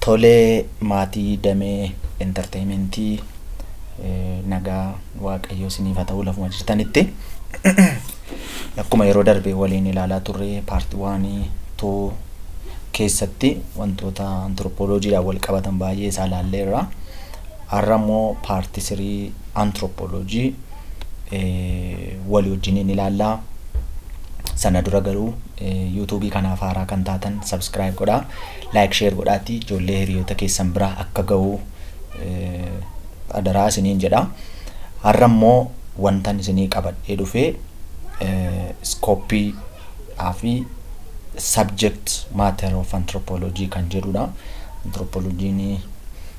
Tolee maatii damee entertaimentii nagaa waaqayyoo siniif haa ta'uu lafuma jirtanitti akkuma yeroo darbe waliin ilaalaa turre part one two keessatti wantoota anthropology dhaan wal qabatan baay'ee isaa ilaalleerra Har'a immoo part three anthropology walii wajjiniin ilaalla. Sana dura garuu YouTube kanaaf haaraa kan taatan subscribe godhaa. Like share godhaati ijoollee hiriyoota keessan bira akka ga'u adaraa isiniin jedha. Har'a immoo wantan isinii qabadhee dhufe iskooppii fi subject matter of anthropology kan jedhudha. Anthropologiin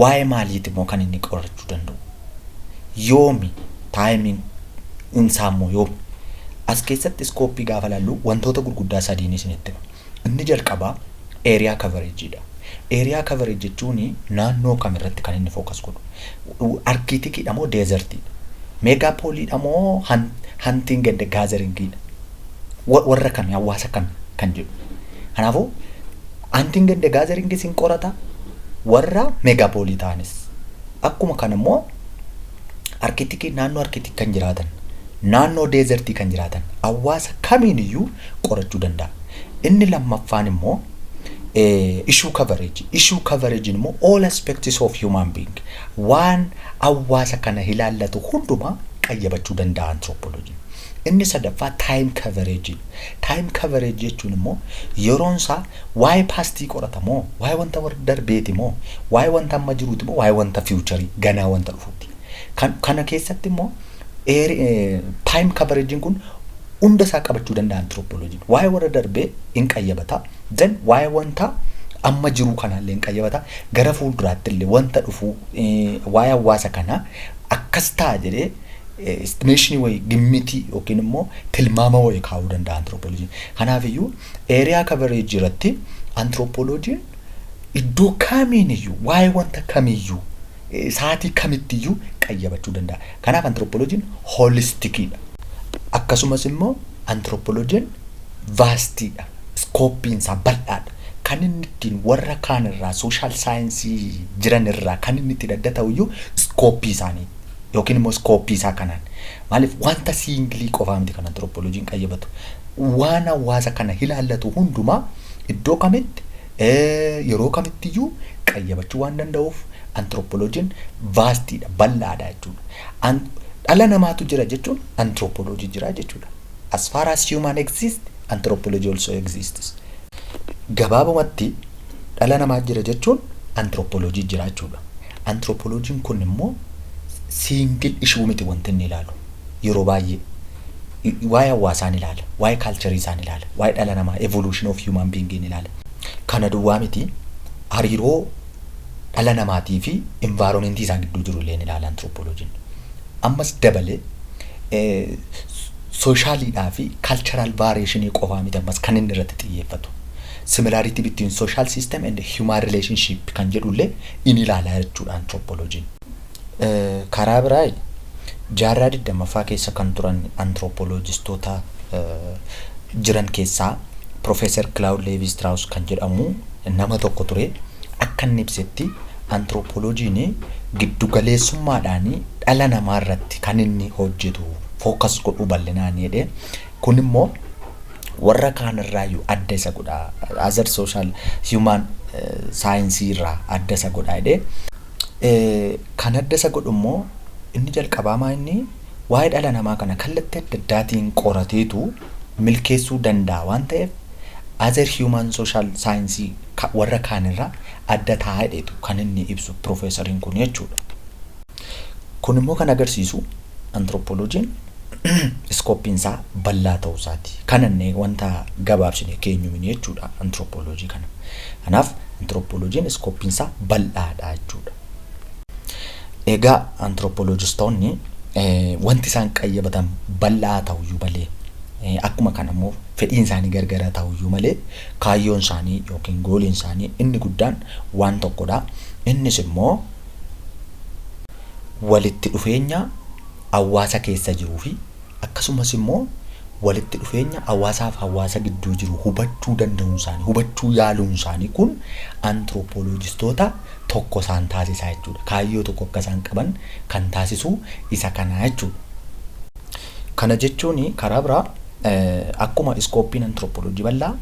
Waa'ee maaliiti immoo kan inni qorachuu danda'u? Yoomi taayimiin isaa immoo yoomi? As keessatti iskooppii gaafa laallu wantoota gurguddaa sadiin isinitti hima. Inni jalqabaa eeriyaa kavareejiidha. Eeriyaa kavareej jechuun naannoo kam irratti kan inni fookas godhu? Arkiitikiidha moo deezertiidha? Meegaapooliidha moo hantiin gadda gaazaringiidha? Wa- Warra kami? Hawaasa kami? Kan jedhu. Kanaafuu antiin ganda gaazaringis hin qorata warra meegaapooliitaanis. Akkuma kana immoo arkitikii naannoo arkitik kan jiraatan naannoo deezertii kan jiraatan hawaasa kamiin iyyuu qorachuu danda'a. Inni lammaffaan immoo ishuu kavareejii. Ishuu kavareejiin immoo all aspects of human being waan hawaasa kana ilaallatu hundumaa qayyabachuu danda'a anthropologiin. Inni sadaffaa time coverage dha. Time coverage jechuun immoo yeroon isaa waa'ee paastii qorata moo, waa'ee wanta warra darbeeti moo, waa'ee wanta amma jiruuti moo, waa'ee wanta fiiwucharii ganaa wanta dhufuuti. Kan kana keessatti immoo eeri- eh, time coverage kun hunda isaa qabachuu danda'a antirooppooloojiin. Waa'ee warra darbee hin qayyabata. Then waa'ee wanta amma jiruu kanaallee hin qayyabata. Gara fuulduraatti illee wanta dhufuu eh, waa'ee hawaasa kanaa akkas ta'a jedhee Istimeeshinii wayii gimmitii yookiin immoo tilmaama wayii kaa'uu danda'a antiroopooloojiin. Kanaaf iyyuu eeriyaa kabareejii irratti antiroopooloojiin iddoo kamiin iyyuu waa'ee wanta kamiiyyuu saatii kamitti iyyuu qayyabachuu danda'a. Kanaaf antiroopooloojiin hoolistikiidha. Akkasumas immoo antiroopooloojiin vaastiidha. Iskooppiin isaa bal'aadha. Kan inni ittiin warra kaan irraa sooshaal saayinsii jiran irraa kan inni ittiin adda ta'u iyyuu iskooppii isaaniiti. Yookiin immoo iskooppii isaa kanaan. Maaliif wanta siingilii qofaa miti kan antirooppooloojiin qayyabatu. Waan hawaasa kana ilaallatu hundumaa iddoo kamitti, yeroo kamitti iyyuu qayyabachuu waan danda'uuf antirooppooloojiin vaastiidha, bal'aadha jechuudha. Dhala namaatu jira jechuun antirooppooloojii jira jechuudha. As far as human exist, anthropology also exists. Gabaabumatti dhala namaa jira jechuun antirooppooloojii jira jechuudha. Antiroopoloojiin kun immoo siingil ishuu miti wanti inni ilaalu. Yeroo baay'ee waa'ee hawaasaan ilaala, waa'ee kaalcharii isaan ilaala, waa'ee dhala namaa, evolution of human being in ilaala. Kana duwwaa miti hariiroo dhala namaatii fi environment isaa gidduu jiru illee ni ilaala antiroopoloojiin. Ammas dabalee eh, sooshaaliidhaa fi kaalcharaal vaariyeeshinii qofaa miti ammas kan inni irratti xiyyeeffatu. Similarity between social system and human relationship kan jedhu illee in ilaala jechuudha anthropology'n. Karaa biraa jaarraa 20ffaa keessa kan turan anthropologistoota jiran keessaa Professor Claude Levi-Strauss kan jedhamu nama tokko ture. Akka inni ibsetti anthropology'n giddu galeessummaadhaan dhala namaa irratti kan inni hojjetu focus godhu bal'inaan jedhee Kun immoo warra kaan irraayyuu adda isa godha. Other social human saayinsii irraa adda isa godha jedhee. Kan adda isa godhu immoo inni jalqabaa maa inni waa'ee dhala namaa kana kallattii adda addaatiin qorateetu milkeessuu danda'a waan ta'eef other human social saayinsii warra kaan irraa adda ta'a jedheetu kan inni ibsu piroofeesariin kun jechuudha. Kun immoo kan agarsiisu Antirooppooloojiin iskooppiin isaa bal'aa ta'uu isaati. Kanannee wanta gabaabsinee keenyu mini jechuudha antirooppooloojii kana. Kanaaf antirooppooloojiin iskooppiin isaa bal'aadha jechuudha. Egaa antirooppooloojistoonni wanti isaan qayyabatan bal'aa ta'uyyuu malee akkuma kana immoo fedhiin isaanii gargara ta'uyyuu malee kaayyoon isaanii yookiin gooliin isaanii inni guddaan waan tokkodha. Innis immoo walitti dhufeenya hawaasa keessa jiruu fi akkasumas immoo walitti dhufeenya hawaasaaf hawaasa gidduu jiru hubachuu danda'uun isaanii, hubachuu yaaluun isaanii kun antirooppooloojistoota tokko isaan taasisaa jechuudha. Kaayyoo tokko akka isaan qaban kan taasisuu isa kanaa jechuudha. Kana jechuun karaa biraa akkuma iskooppiin antirooppooloojii bal'aa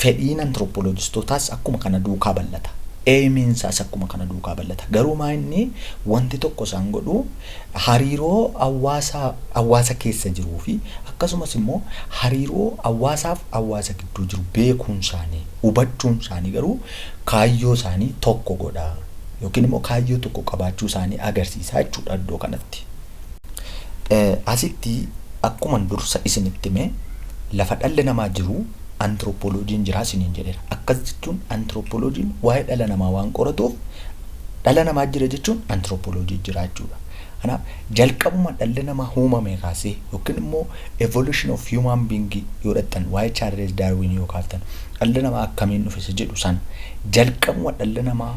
fedhiin antirooppooloojistootaas akkuma kana duukaa bal'ata. Eeymiin isaas akkuma kana duukaa bal'ata. Garuu maa inni wanti tokko isaan godhu hariiroo hawaasa hawaasa keessa jiruu fi akkasumas immoo hariiroo hawaasaaf hawaasa gidduu jiru beekuun isaanii hubachuun isaanii garuu kaayyoo isaanii tokko godha yookiin immoo kaayyoo tokko qabaachuu isaanii agarsiisa jechuudha iddoo kanatti. Asitti akkuman dursa isinitti hime lafa dhalli namaa jiru antirooppooloojiin jira isiniin jedheera. Akkas jechuun antirooppooloojiin waa'ee dhala namaa waan qoratuuf dhala namaa jira jechuun antirooppooloojii jira jechuudha. Kanaaf jalqabuma dhalli namaa uumamee kaasee yookiin immoo evolution of human being yoo dhaqxan waa'ee Chaarlees Daarwiin yoo kaaftan dhalli namaa akkamiin dhufe isa jedhu sana jalqabuma dhalli namaa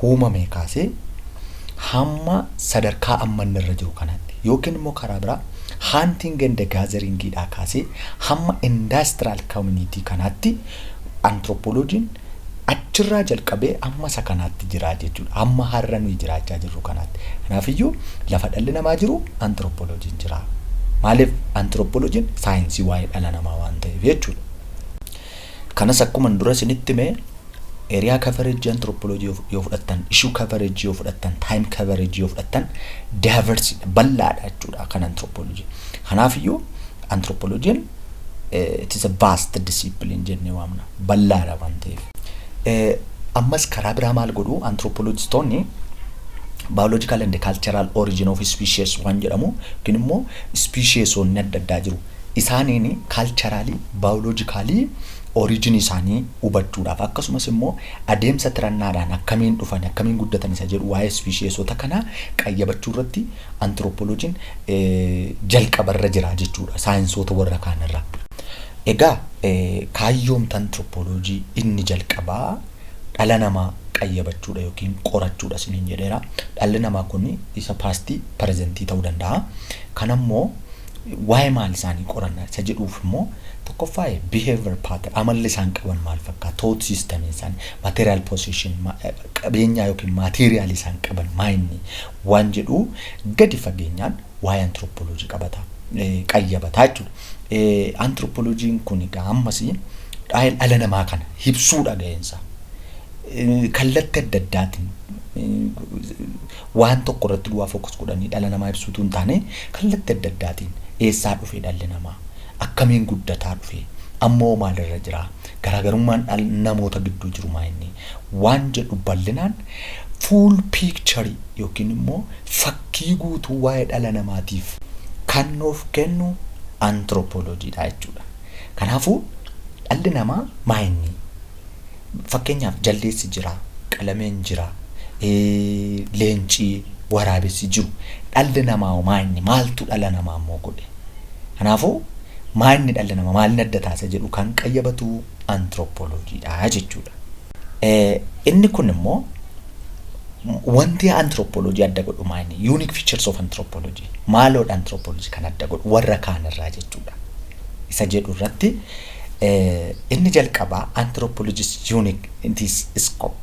uumamee kaasee hamma sadarkaa amma inni irra jiru kanaatti yookiin immoo karaa biraa haantiin ganda gaazeringiidhaa kaasee hamma indaastiraal koomuniitii kanaatti antirooppooloojiin achirraa jalqabee amma isa kanaatti jiraa jechuudha. Amma har'a nuyi jiraachaa jirru kanaatti. Kanaafiyyuu lafa dhalli namaa jiru antirooppooloojiin jira. Maaliif antirooppooloojiin saayinsii waa'ee dhala namaa waan ta'eef jechuudha. Kanas akkuman dura isinitti hime area coverage anthropology yoo yoo fudhattan, issue coverage yoo fudhattan, time coverage yoo fudhattan diverse dha, bal'aadha jechuudha kan anthropology. Kanaafiyyuu anthropology'n eh, it is a vast discipline jennee waamna, bal'aadha waan ta'eef. Eh, Ammas karaa biraa maal godhu anthropologistoonni biological and cultural origin of species waan jedhamu yookiin immoo speciesonni adda addaa jiru. isaaniin kaalcharaalii, baayoloojikaalii orijinii isaanii hubachuudhaaf akkasumas immoo adeemsa tirannaadhaan akkamiin dhufan, akkamiin guddatan isa jedhu waa'ee ispishiyeesota kanaa qayyabachuu irratti antirooppooloojiin jalqaba irra jira jechuudha saayinsoota warra kaan irra. Egaa kaayyoomta antirooppooloojii inni jalqabaa dhala namaa qayyabachuudha yookiin qorachuudha isiniin jedheera. Dhalli namaa kun isa paastii pirezentii ta'uu danda'a. Kan ammoo Waa'ee maal isaanii qoranna isa jedhuuf immoo tokkoffaa behavior pattern amalli isaan qaban maal fakkaata thought system isaanii material possession qabeenyaa yookiin material isaan qaban maayinni waan jedhu gadi fageenyaan waa'ee anthropology qabata qayyabataa jechuudha. Anthropologiin kun egaa ammas dhaa'el dhala namaa kana hibsuudha ga'eensaa. Kallatti adda addaatiin Waan tokko irratti duwaa focus godhanii dhala namaa ibsuu utuu hin taane, kallatti adda addaatiin eessaa dhufee dhalli namaa? Akkamiin guddataa dhufee? Amma hoo maal irra jiraa? Garaagarummaan dhal namoota gidduu jiru maa inni? Waan jedhu ballinaan full picture yookiin immoo fakkii guutuu waa'ee dhala namaatiif kan nuuf kennu anthropology dha jechuudha. Kanaafuu dhalli namaa maa inni? Fakkeenyaaf jaldeessi jira, qalameen jira, leenci, waraabessi jiru. Dhalli namaa hoo maa inni? Maaltu dhala namaa immoo godhe? Kanaafuu maa inni dhalli namaa maalin adda taasisa jedhu kan qayyabatu antirooppooloojiidha jechuudha. Inni kun immoo wanti antirooppooloojii adda godhu maa inni? Unique features of anthropology. Maaloodha antirooppooloojii kan adda godhu warra kaan irraa jechuudha. Isa jedhu irratti Inni jalqabaa anthropologist unique in this scope.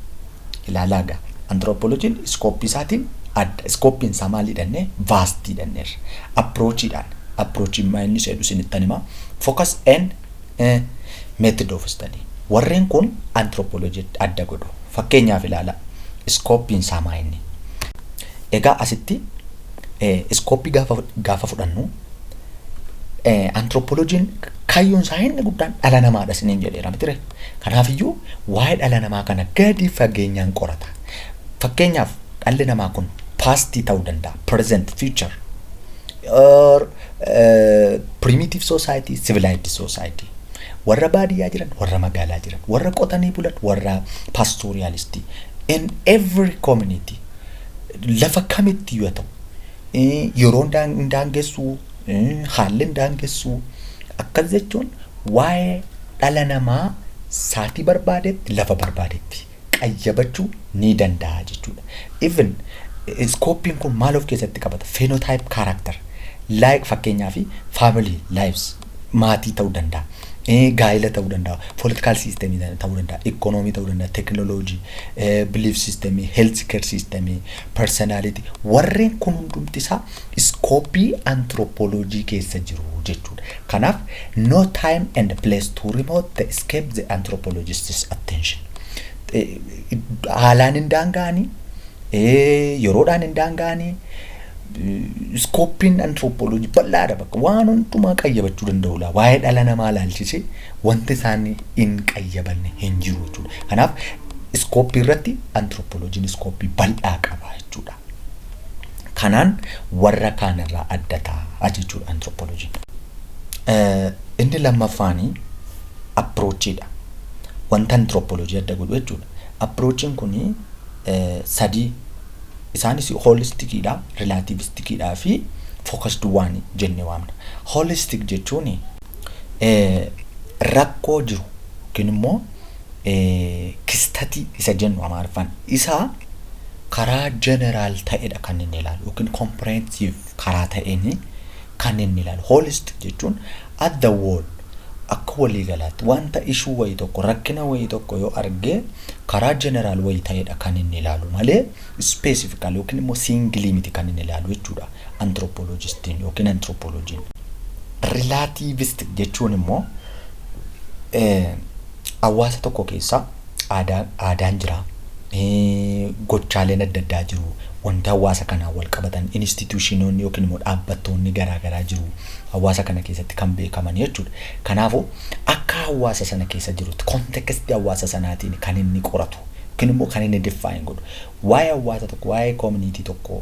Ilaalaa gaa anthropologiin iskooppii isaatiin adda. Iskooppiin isaa maal hidhannee? Vaastii hidhanneerra. Approachiidhaan. Approachiin maa inni seedhu isinittan himaa. Focus and eh, method of study. Warreen kun anthropology adda godhu. Fakkeenyaaf ilaalaa. Iskooppiin isaa maa inni? Egaa asitti eh, iskooppii gaafa, gaafa fudhannu Antirooppooloojiin kaayyoon isaa inni guddaan dhala namaadha isiniin jedheera mitire. Kanaafiyyuu waa'ee dhala namaa kana gadi fageenyaan qorata. Fakkeenyaaf dhalli namaa kun paastii ta'uu danda'a, present, future, or eh, primitive society, civilized society. Warra baadiyyaa jiran, warra magaalaa jiran, warra qotanii bulan, warra pastooriyaalistii. In every community lafa kamitti yoo ta'u yeroon hin daangessu, haalli hin daangessu. Akkas jechuun waa'ee dhala namaa saatii barbaadetti, lafa barbaadetti qayyabachuu ni danda'a jechuudha. Even iskooppiin kun maal of keessatti qabata? Phenotype character, like fakkeenyaaf family lives. maatii ta'uu danda'a, eh, gaa'ila ta'uu danda'a, political system ta'uu danda'a, economy ta'uu danda'a, technology, eh, belief system, health care system, personality warreen kun hundumti isaa iskoopii anthropology keessa jiru jechuudha. Kanaaf no time and place to remote the escape the anthropologist's attention. Eh, Haalaan hin daanga'anii, eh, yeroodhaan hin daanga'anii, Iskooppiin antiroopooloojii bal'aadha bakka waan hundumaa qayyabachuu danda'u laa waa'ee dhala namaa ilaalchisee wanti isaan hin qayyabanne hin jiru jechuudha. Kanaaf iskooppii irratti antiroopooloojiin iskooppii bal'aa qaba jechuudha. Kanaan warra kaan irraa adda ta'a jechuudha antiroopooloojiin. Inni lammaffaan apiroochiidha. Wanta antiroopooloojii adda godhu jechuudha. Apiroochiin kun sadii Isaanis hoolistikiidha, rilaativistikiidhaa fi fookasd waanii jennee waamna. Hoolistik jechuun rakkoo jiru yookiin immoo kistatii isa jennu Amaariffaan isa karaa jeneraal ta'edha kan inni ilaalu yookiin kompireensif karaa ta'een kan inni ilaalu, holistic jechuun at the whole, akka walii galaatti, wanta issue wayii tokko, rakkina wayii tokko yoo arge karaa general wayii ta'eedha kan inni ilaalu malee specifically yookiin immoo singly miti kan inni ilaalu jechuudha anthropologistiin yookiin anthropologiin. Relativistic jechuun immoo hawaasa tokko keessa aadaan jira. Gochaaleen adda addaa jiru. Wanti hawaasa kanaan wal qabatan instituushinoonni yookiin immoo dhaabbattoonni garaa garaa jiru. Hawaasa kana keessatti kan beekaman jechuudha. Kanaafuu akka hawaasa sana keessa jirutti kontekstii hawaasa sanaatiin kan inni qoratu yookiin immoo kan inni diffaayin godhu. Waa'ee hawaasa tokko waa'ee koominiitii tokko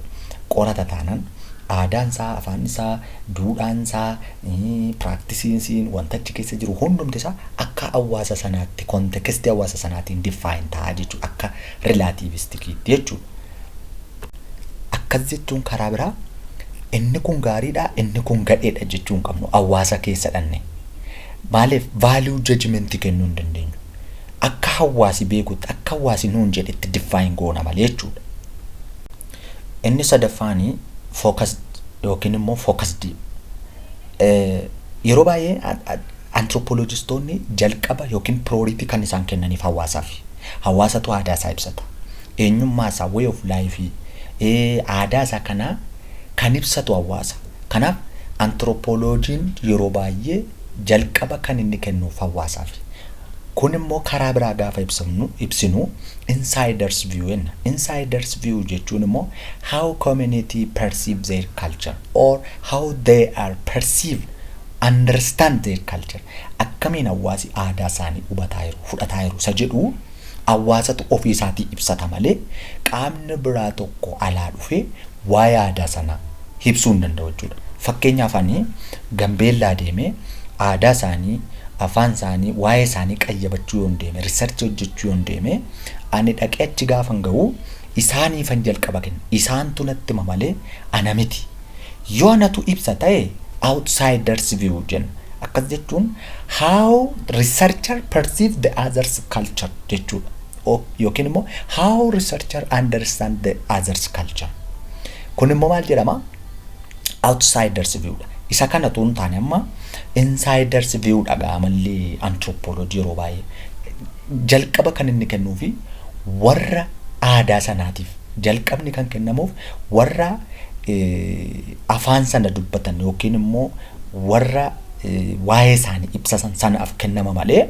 qorata taanaan aadaan isaa, afaan isaa, duudhaan isaa, Practice-iin siin wanta achi keessa jiru hundumti isaa akka hawwaasa sanaatti context hawwaasa sanaatiin define ta'a jechuudha. Akka relativistikiitti jechuudha. Akkas jechuun karaa biraa inni kun gaariidha inni kun gadheedha jechuu hin qabnu hawwaasa keessa dhanne. Maaliif value judgment kennuu hin dandeenyu. Akka hawwaasi beekutti akka hawwaasi nuun jedhetti define goona malee jechuudha. Inni sadaffaan focused yookiin immoo focused yeroo baay'ee anthropologistoonni jalqaba yookiin priority kan isaan kennaniif hawaasaaf. Hawaasatu aadaa isaa ibsata. Eenyummaa isaa way of life aadaa isaa kana kan ibsatu hawaasa. Kanaaf anthropologiin yeroo baay'ee jalqaba kan inni kennuuf hawaasaaf. Kun immoo karaa biraa gaafa ibsamnu ibsinu insiders view jenna. Insiders view jechuun immoo how community perceive their culture or how they are perceived understand their culture akkamiin hawaasi aadaa isaanii hubataa jiru fudhataa jiru isa jedhu hawaasatu ofii isaatii ibsata malee qaamni biraa tokko alaa dhufee waa'ee aadaa sanaa ibsuu hin danda'u jechuudha. Fakkeenyaaf ani Gambeellaa deemee aadaa isaanii, afaan isaanii, waa'ee isaanii qayyabachuu yoon deeme, research hojjechuu yoon deeme, ani dhaqee achi gaafan ga'u isaaniifan jalqaba kenna. Isaantu natti hima malee ana miti. Yoo anatu ibsa ta'e outsiders view jenna. Akkas jechuun how researcher perceive the others culture jechuudha. O- Yookiin immoo how researcher understand the others culture. Kun immoo maal jedhama? Outsiders view dha. Isa kana utuu hin taane amma insiders view dha gaa amalli anthropology yeroo baay'ee. Jalqaba kan inni kennuufi warra aadaa sanaatiif jalqabni kan kennamuuf warra afaan sana dubbatan yookiin immoo warra waa'ee isaanii ibsasan sanaaf kennama malee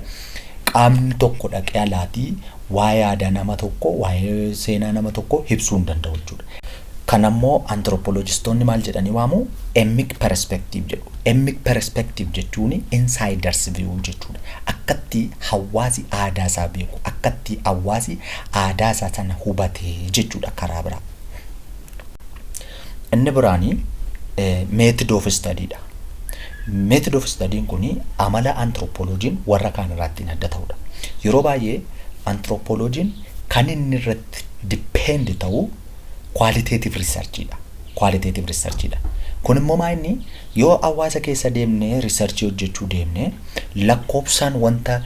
Qaamni tokko dhaqee alaatii waa'ee aadaa nama tokkoo, waa'ee seenaa nama tokkoo ibsuu hin danda'u jechuudha. Kana immoo antirooppooloojistoonni maal jedhanii waamu? Emmik perspektiiv jedhu. Emmik perspektiiv jechuun insaayidars viyuu jechuudha. Akkatti hawaasi aadaa isaa beeku, akkatti hawaasi aadaa isaa sana hubate jechuudha karaa biraa. Inni biraani method of study dha. Method of study kun amala anthropologiin warra kaan irraa ittiin adda ta'udha. Yeroo baay'ee anthropologiin kan inni irratti depend ta'u qualitative research dha. Qualitative research dha. Kun immoo maa inni yoo hawaasa keessa deemnee research hojjechuu deemnee lakkoofsaan wanta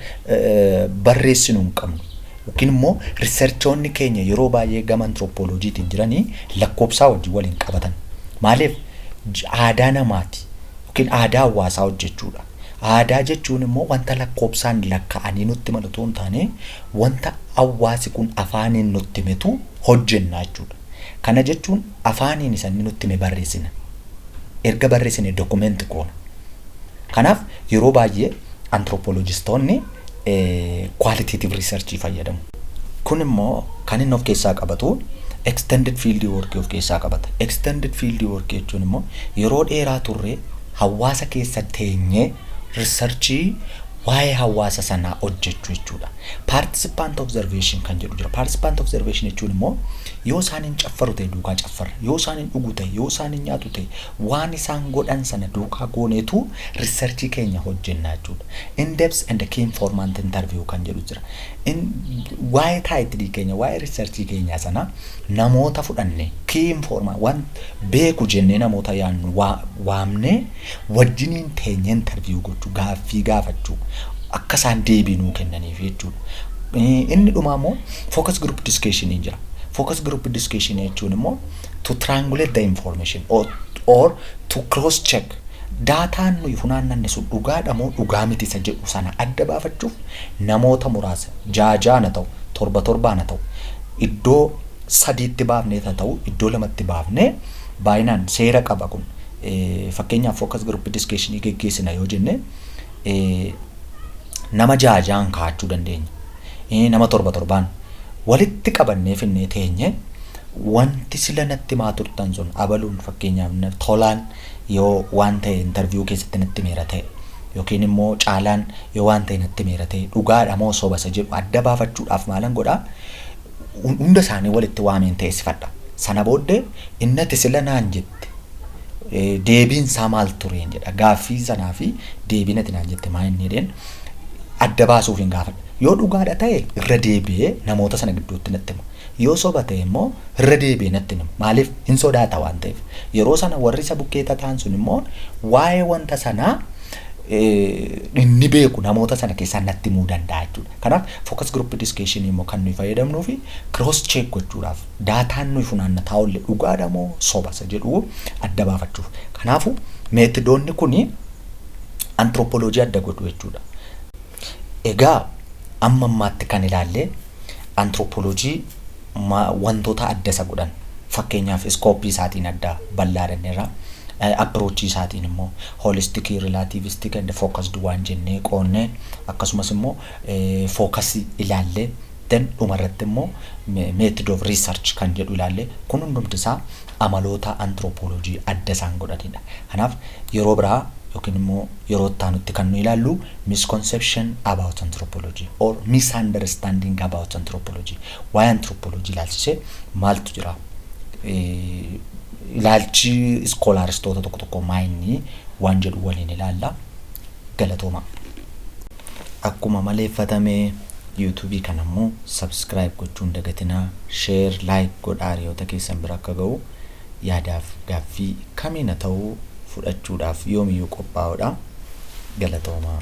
barreessinu hin qabnu. Yookiin immoo riserchoonni keenya yeroo baay'ee gama antirooppooloojiitiin jirani lakkoobsaa wajjin wal hin qabatan. Maaliif? Aadaa namaati yookiin aadaa hawaasaa hojjechuudha. Aadaa jechuun immoo wanta lakkoobsaan lakka'anii nutti himan utuu hin taane wanta hawaasi kun afaaniin nutti himetu hojjenna jechuudha. Kana jechuun afaaniin isa inni nutti hime barreessina. Erga barreessine document goona. Kanaaf yeroo baay'ee antirooppooloojistoonni kwaaliteetiiv riisarchii fayyadamu. Kun immoo kan inni of keessaa qabatu extended field work of keessaa qabata. Extended field work jechuun immoo yeroo dheeraa turree hawaasa keessa teenyee riisarchii waa'ee hawaasa sanaa hojjechuu jechuudha. Participant observation kan jedhu jira. Participant observation jechuun immoo yoo isaan hin caffaru ta'e duukaa caffarra, yoo isaan hin dhugu ta'e, yoo isaan hin nyaatu ta'e, Waan isaan godhan sana duukaa gooneetu research keenya hojjenna jechuudha. In-depth and key informant interview kan jedhu jira. In, waa'ee title keenya, waa'ee research keenyaa sana namoota fudhannee, key informant, waan beeku jennee namoota yaannu waa, waamnee wajjiniin teenyee interview gochuu, gaaffii gaafachuu, akka isaan deebii nuu kennaniif jechuudha. Inni dhumaa immoo focus group discussion jira. Focus group discussion jechuun immoo to triangulate the information or, or to cross check daataan nuyi funaannanne sun dhugaadha moo dhugaa miti isa jedhu sana adda baafachuuf namoota muraasa jaajaana ta'u torba torbaana ta'u iddoo sadiitti baafnee ta ta'u iddoo lamatti baafnee baay'inaan seera qaba kun fakkeenyaaf focus group discussion geggeessina yoo jenne nama jaajaan kaa'achuu dandeenya. nama torba torbaan walitti qabannee finnee teenye wanti sila natti himaa turtan sun abaluun fakkeenyaaf tolaan yoo waan ta'e intarviyuu keessatti natti himeera ta'e yookiin immoo caalaan yoo waan ta'e natti himeera ta'e dhugaadha moo soba isa jedhu adda baafachuudhaaf maalan godhaa hunda isaanii walitti waameen teessifadha sana booddee innati sila naan jette deebiin isaa maal tureen jedha gaaffii sanaa fi deebiin ati naan jette maa inni jedheen adda baasuuf hin gaafadha yoo dhugaadha ta'e irra deebi'ee namoota sana gidduutti natti hima yoo soba ta'e immoo irra deebi'ee natti hima maaliif hin sodaata waan ta'eef yeroo sana warri isa bukkee tataan sun immoo waa'ee wanta sanaa inni beeku namoota sana keessaa natti himuu danda'a jechuudha kanaaf focus group discussion immoo kan nuyi fayyadamnuu fi cross check gochuudhaaf Daataan nuyi funaannataaolle dhugaadha moo soba isa jedhu adda baafachuuf. Kanaafu, meetidoonni kun antiroopoloojii adda godhu jechuudha. Egaa amma ammaatti kan ilaalle antiroopoloojii wantoota adda isa godhan fakkeenyaaf iskooppii isaatiin adda bal'aa jenneerra. Appirochii isaatiin immoo hoolistikii, rilaatiivistik and fookasd waan jennee qoonnee akkasumas immoo fookasii ilaallee Then dhuma irratti immoo method of research kan jedhu ilaalle kun hundumti isaa amaloota anthropology adda isaan godhanidha. Kanaaf yeroo biraa yookiin immoo yeroo itti aanutti kan nu ilaallu misconception about anthropology or misunderstanding about anthropology waa'ee anthropology ilaalchisee maaltu jira ilaalchi iskoolaaristoota tokko tokko maayinni waan jedhu waliin ilaalla galatoomaa. Akkuma maleeffatame YouTube kana immoo subscribe gochuu hin dagatinaa, share, like godhaa hiriyoota keessan bira akka ga'u. Yaadaaf gaaffii kamiina ta'uu fudhachuudhaaf yoomiyyuu qophaa'oodha. Galatoomaa.